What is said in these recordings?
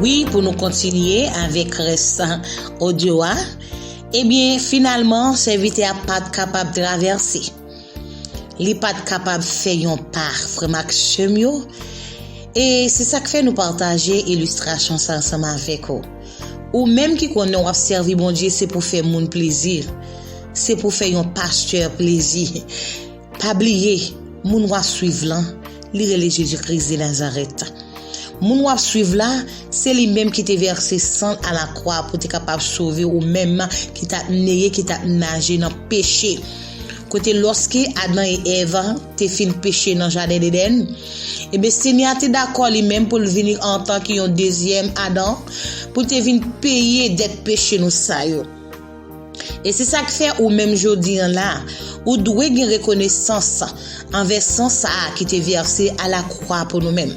Wi pou nou kontinye avèk rès odyo a, ebyen finalman sèvitè a pat kapab travèse. Li pat kapab fè yon pa, frè m ak sè m yo, e se sa k fè nou pataje ilistrasyon sa ansanm avèk ou. Ou menm ki konnen w ap sèvi Bondye se pou fè moun plezi, se pou fè yon pastè plezi. Pa bliye, moun w ap suiv lan, li rele Jezi Kris de Nazarèt. Moun w ap suiv la, se li menm ki te vèse san l alakwa pou te kapab sove ou menm ki t ap neye, ki t ap naje nan peche. Kote lòske Adan e Èv te fin peche nan jaden Edenn, enben Senyè a te dakò li menm pou l vini antanke yon dezyèm Adan pou l te vin peye dèt peche nou sa yo. E se sa k fè ou menm jodi an la, ou dwe gen rekonesans anvè san sa a ki te vèse alakwa pou nou menm.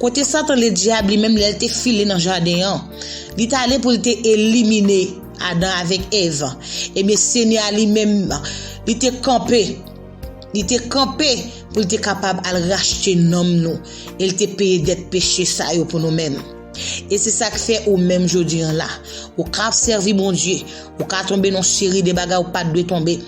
Kote Satan Ledyab li menm lè l te file nan jaden an, li t ale pou l te elimine Adan avèk Èv, ebyen Senyè a li menm li te kanpe, li te kanpe pou l te kapab al rachte nanm nou e l te peye dèt peche sa yo pou nou menm. E se sa k fè ou menm jodi an la. Ou ka ap sèvi Bondye, ou ka tonbe nan seri de bagay ou pa t dwe tonbe,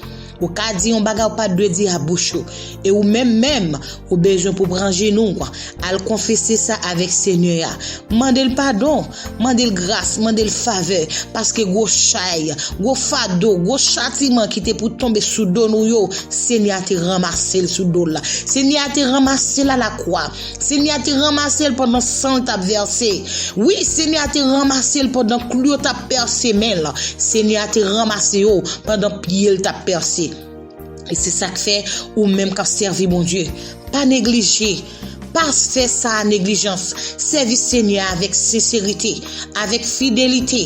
ou ka di yon bagay ou pa t dwe di a bouch ou, e ou menm menm, ou bezwen pou w pran jenou w, al konfese sa avèk Senyè a. Mande l padon, mande l gras, mande l favè, paske gwo chay, gwo fado, gwo chatiman ki te pou tonbe sou do nou yo, Senyè a te ranmase l sou do l. Senyè a te ranmase l alakwa. Senyè a te ranmase l pandan san l t ap vèse. Wi, Senyè a te ranmase l pandan klou yo t ap pèse men l. Senyè a te ranmase yo pandan pye l t ap pèse. E se sa k fè, ou menm k ap sèvi Bondye, pa neglije, pa fè sa a neglijans. Sèvi Senyè a avèk senserite, avèk fidelite.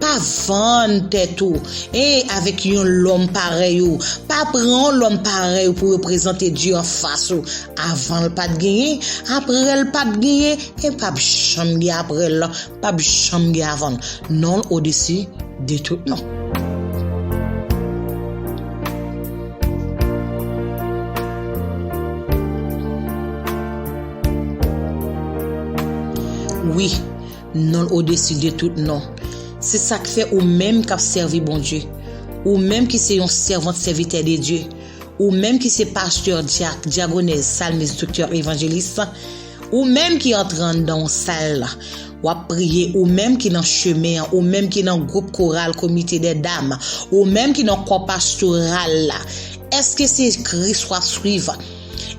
Pa vann tèt ou e avèk yon lòm parèy ou, pa pran yon lòm parèy ou pou reprezante Dye anfas ou. Avan l pat genyen, aprè l pap genyen e pap janm gen aprè l, pap janm gen avan l. Non l odesi de tout non. Wi. Non l odesi de tout non. Se sa k fè ou menm k ap sèvi Bondye, ou menm ki se yon sèvant sèvitè de Dye, ou menm ki se pastè, dyak, dyagonèz, salmis, doktè, evanjelis, ou menm ki antre anndan yon sal, w ap priye, ou menm ki nan chemen an, ou menm ki nan gwoup koral komite dè dam, ou menm ki nan kò pastoral la, èske se Kris w ap suiv?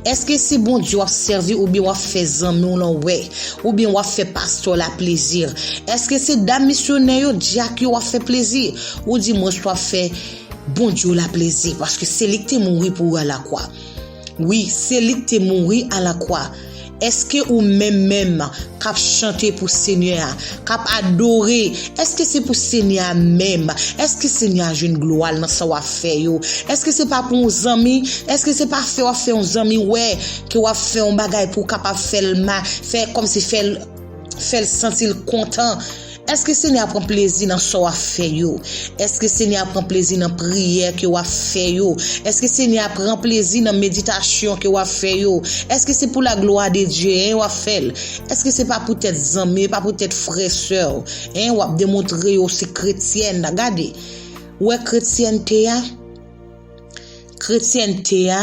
Eske se Bondye wap sèvi oubyen wap fè zanmi w lan wè, oubyen wap fè pastè w la plezi? Eske se dam misyonè yo, dyak yo wap fè plezi? Ou di mwen s wap fè Bondye w la plezi paske se li k te mouri pou ou alakwa. Wi, se li k te mouri alakwa. Èske ou menm menm k ap chante pou Senyè a, k ap adore, èske se pou Senyè a menm? Èske Senyè a jwenn glwa l nan sa w ap fè yo? Èske se pa pou yon zanmi? Èske se pa fè w ap fè yon zanmi wè ke w ap fè yon bagay pou w kapab fè l fè kòmsi fè l fè l santi l kontan? Èske Senyè a pran plezi nan sa w ap fè yo? Èske Senyè a pran plezi nan priyè ke w ap fè yo? Èske Senyè a pran plezi nan meditasyon ke w ap fè yo? Èske se pou laglwa de Dye, en, w ap fè l? Èske se pa poutèt zanmi, e pa poutèt frè, sè w, en, w ap demontre yo w se kretyèn? Gade! Ou wè kretyènte a? Kretyènte a.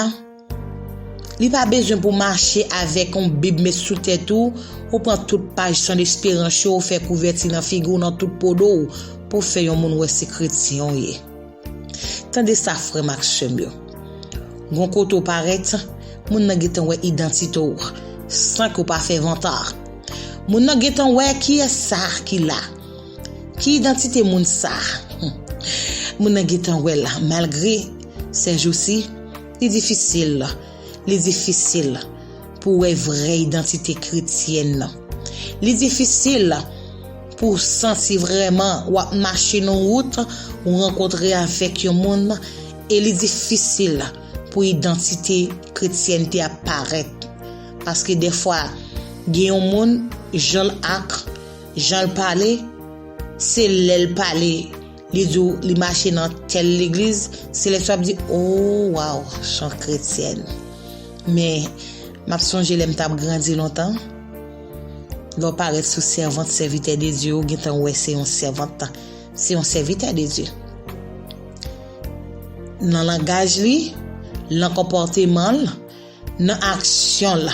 Li pa bezwen pou w mache avèk yon bib met sou tèt ou, ou pran tout paj Son Esperans yo ou fè kouvèti nan figi w nan tout po do w pou fè yon moun wè se kretyen w ye. Tande sa frè m ak sè m yo, gon kote w parèt, moun nan gentan wè idantite w san ke w pa fè vanta. Moun nan gentan wè kiyès sa ki la, ki idantite moun sa. Moun nan gentan wè l malgre sèjousi, Li difisil, li difisil pou w wè vrè idantite kretyèn nan. Li difisil pou w santi vrèman w ap mache nan yon wout, ou rankontre avèk yon moun, e li difisil pou idantite kretyènte a parèt. Paske dèfwa, gen yon moun, jan l ak, jan l pale, se lè l pale Li di w li mache nan tèl legliz, se lè sa w ap di, o, waw, chant kretyèn. Men, m ap sonje lè m t ap grandi lontan, lè w parèt sou sèvant sèvitè de Dye, ou gen tan wè se yon sèvant, se yon sèvitè de Dye. Nan langaj li, nan konpòteman l, Nan aksyon l,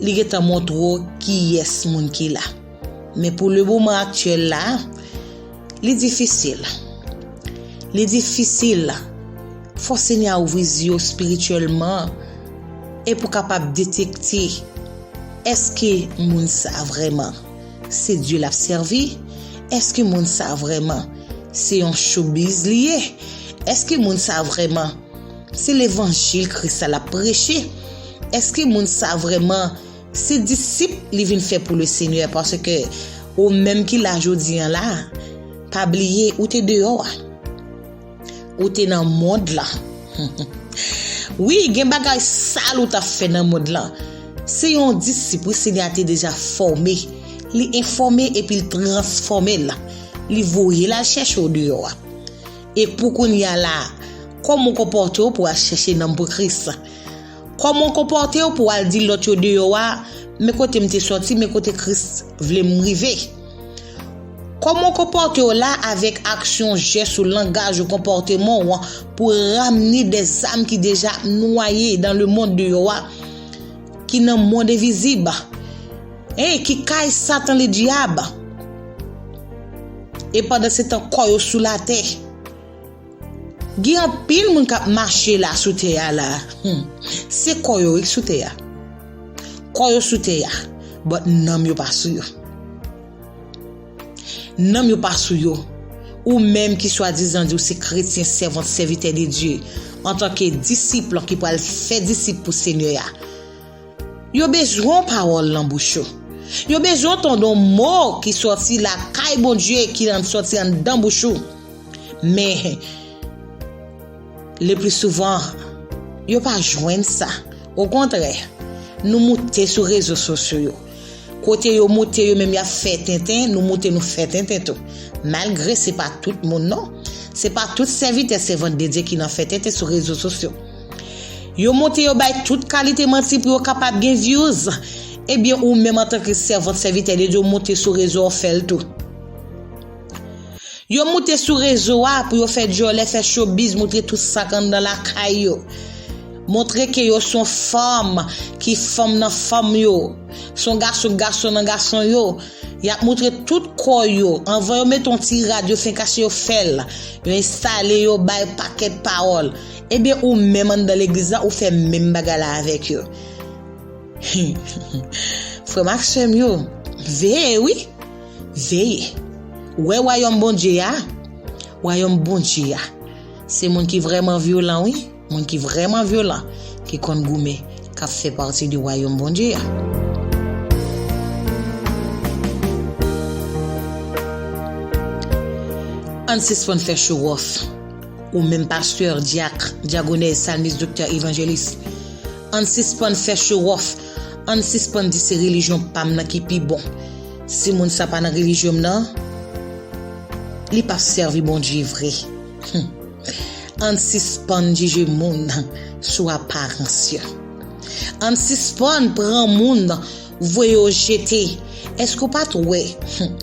li gentan montre w kiyès moun ki la. Men pou lemoman aktyèl la, li difisil. Li difisil. Fò Senyè a ouvri zye w espirityèlman e pou kapab detekte èske moun sa vrèman se Dye l ap sèvi, èske moun sa vrèman se yon chobiz li ye, èske moun sa vrèman Se levanjil Kris la lap preche, eske moun sa vreman se disip li vin fè pou le Senyè paske ou menm ki la jodi an la pa bliye ou te deyò a ou te nan mond la wi gen bagay sal ou tap fè nan mond la se yon disip wi Senyè a te deja fòme li enfòme epi l transfòme l li voye l al chèche ou deyò a E pou kounye a la a, kòman w konpòte w pou w al chèche nanm pou Kris? Kòman w konpòte w pou w al di lòt yo deyò a, Men kote m te sòti, men kote Kris vle m rive? Kòman w konpòte w la a avèk aksyon w, jès ou, langaj ou, konpòteman w an pou w ramne de zam ki deja ap nwaye dan lemonn deyò a, ki nan mond envizib? Hey ki kay satan le diab. E pandan se tan kò yo sou la tè. Gen anpil moun kap mache la sou tè a la. Hmm. Se kò yo ki sou tè a. Kò yo sou tè a. But nanm yo pa sou yo. Nanm yo pa sou yo. Ou menm ki swadizan di ou se kretyen sèvant sèvitè de Dye, antanke disip lan ki pral fè disip pou Senyè a, Yo bezwen w pawòl nan bouch yo. Yo bezwen w tande yon mo ki sòti lakay Bondye ki sòti anndan bouch ou. Men, leplisouvan, yo pa jwenn sa. Okontrè, nou moute sou rezo sosyo yo. Kote yo moute yo menm y ap fè tenten, nou moute nou fè tenten tou. Malgre se pa tout moun non. Se pa tout sèvitè sèvant Bndye ki nan fè tenten sou rezo sosyo. Yo monte yo bay tout kalite manti pou yo kapab gen views. Ebyen ou menm antanke sèvant sèvitè de Dieu monte sou rezo an fèl tou. Yo moute sou rezo a pou yo fè dyòlè fè chobiz moutre tout sak anndan lakay yo. Montre ke yo son fanm ki fanm nan fanm yo. Son gason gason nan gason yo. Yap moutre tout kò yo. Anvan yo mete yon ti rad yo fenk achte yo fèl. Yo enstale yo bay pakèt pawòl. Ebyen ou menm anndan legliz la ou fè menm bagay la avèk yo Hum frèm ak sèm yo veye wi veye wè wayòm Bondye ya wayòm Bondye ya se moun ki vrèman vyolan wi moun ki vrèman vyolan ki konn goumen kap fè pati de wayòm Bondye ya. Ann sispann fè chowòf. Ou menm pastè, dyak, dyagonèz, salmis, doktè, evanjelis, ann sispann fè chowòf, ann sispann di se relijyon pa m nan ki pi bon. Si moun sa pa nan relijyon m nan, li p ap sèvi Bondye vre. Hum! Ann sispann jije moun sou aparans yo. Ann sispann pran moun voye yo jete. Èske ou pa t wè, hum!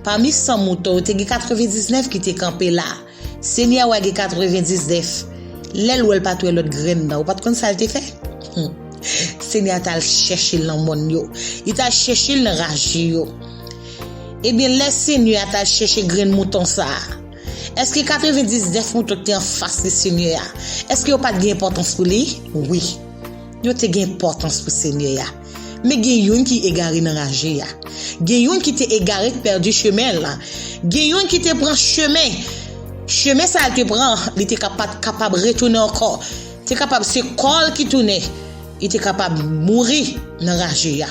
Pami san mouton yo te gen 99 ki te kanpe la? Senyè wa gen 99 lèl wèl pat wè lòt grenn nan ou pat konn sal te fè humm senyè a tal chèchel nan mòn yo li tal chèchel nan raje yo ebyen lè senyè a tal chèche grenn mouton sa èske 99 mouton ki te anfas li senyè a èske yo pat gen enpòtans pou li wi yo te gen enpòtans pou senyè a. Men gen youn ki egare nan raje a. Gen youn ki te egare k pèdi chemen l. Gen youn ki te pran chemen. Chemen sa l te pran, li te ka pa t kapab retounen ankò. Te kapab se kò l ki tounen. Li te kapab mouri nan raje a.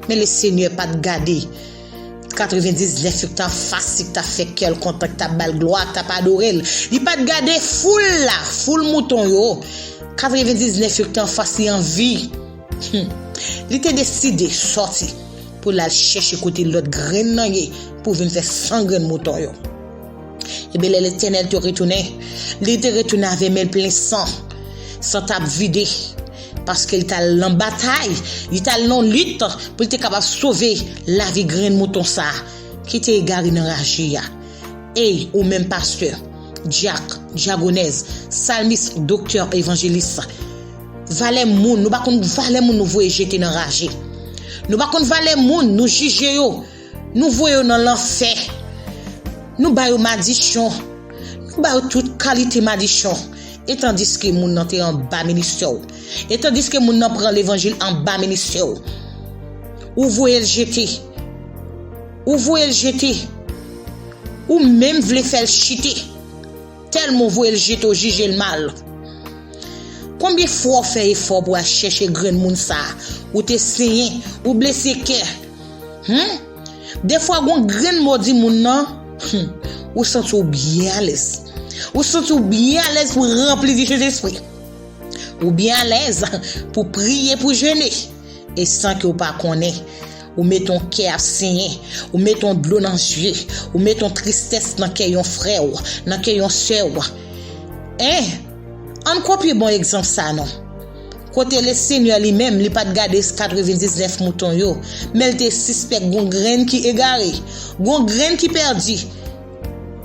Men Lesenyè pa t gade 99 yo k t anfasi, k t ap fè kè l kontan, k t ap ba l glwa, k t ap adore l. Li pa t gade foul la, foul mouton yo. 99 yo k t anfas li an vi. Humm. Li te deside sòti pou l al chèche kote lòt grenn nan ye pou vin fè san grenn mouton yo. Enben lè Letènèl te retounen, li te retounen avè men l plen san, san t ap vide, paske l t al nan batay, li t al nan lit pou l te kapab sove lavi grenn mouton sa a ki te egare nan raje a. Ey, ou menm pastè, dyak, dyagonèz, salmis, doktè, evanjelis. Valè moun, nou pa konn valè moun nou voye jete nan raje. Nou pa konn valè moun, nou jije yo, nou voye yo nan lanfè. Nou ba yo madichon, nou ba yo tout kalite madichon. E tandiske moun nan te anba ministè w, e tandiske moun nan pran levanjil anba ministè w, ou voye l jete. Ou voye l jete. Ou menm vle fè l chite. Tèlman w voye l jete w jije l mal. Konbyen fwa w fè efò pou w al chèche grenn moun sa a, ou te senyen, ou blese kè. Hum! Defwa gon grenn mo w di moun nan, hum! ou santi w byen alèz. Ou santi w byen alèz pou w ranpli di Sentespri. Ou byen alèz pou w priye, pou w jene. E san ke w pa konnen. Ou mete yon kè ap senyen. Ou mete yon dlo nan zye. Ou mete yon tristès nan kè yon frè w, nan kè yon sè w. En! An n kopye bon egzanp sa a non. Kote Lesenyè Li menm Li pa t gade katrevendiznèf mouton yo, men L te sispèk gon grenn ki egare, gon grenn ki pèdi.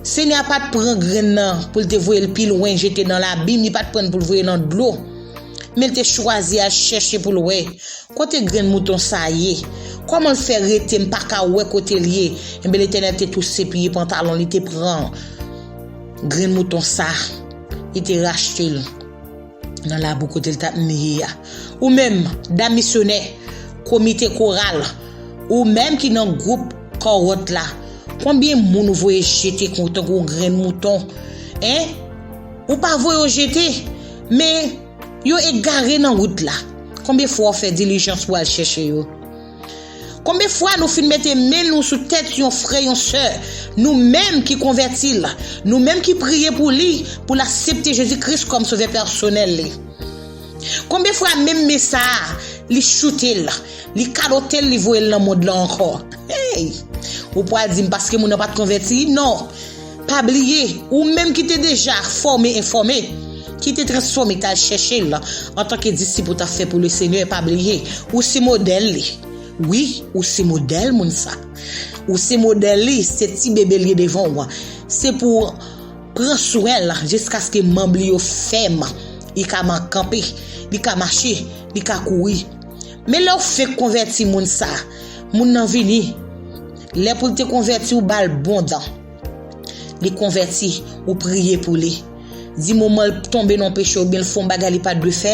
Senyè a pa t pran grenn nan pou L te voye l pi lwen jete nan labim, Li pa t pran l pou L voye nan dlo. Men l te chwazi al chèche pou l wè, Kote grenn mouton sa a ye? Kòman l fè rete m pa ka wè kote l ye? Enben, Letènèl te touse piye pantalon l, li te pran grenn mouton sa a, li te rachte l nan labou kote l t ap miye a. Ou menm, dam misyonè, komite koral, ou menm ki nan gwoup kawòt la, konbyen moun ou voye jete tankou grenn mouton? Hein? Ou pa voye yo jete? Men, yo egare nan wout la. Konbyen fwa w fè dilijans pou w al chèche yo? Konbyen fwa nou fin mete men nou sou tèt yon frè, yon sè, nou menm ki konvèti l, nou menm ki priye pou li, pou l asepte Jezi Kris kòm Sovè pèsonèl li? Konbyen fwa menm men sa a, li choute l, li kalote l, li voye l nan mond lan ankò? Hey! Ou pral di m paske moun nan pa t konvèti? Non! Pa bliye, ou menm ki te deja fòme enfòme, ki te transfòme ki t'al chèche l, antanke disip ou t'ap fè pou Lesenyè, pa bliye, ou se modèl li. Wi, ou se modèl moun sa. Ou se modèl li, se ti bebe l ye devan ou an. Se pou w pran swen l jiskaske manb li yo fèm, li ka kanpe, li ka mache, li ka kouri. Men lè ou fenk konvèti moun sa, moun nan vini, lè pou l te konvèti ou ba l bon dan. Li konvèti, ou priye pou li. Di moman l tonbe nan yon peche oubyen l fè yon bagay li pa t dwe fè,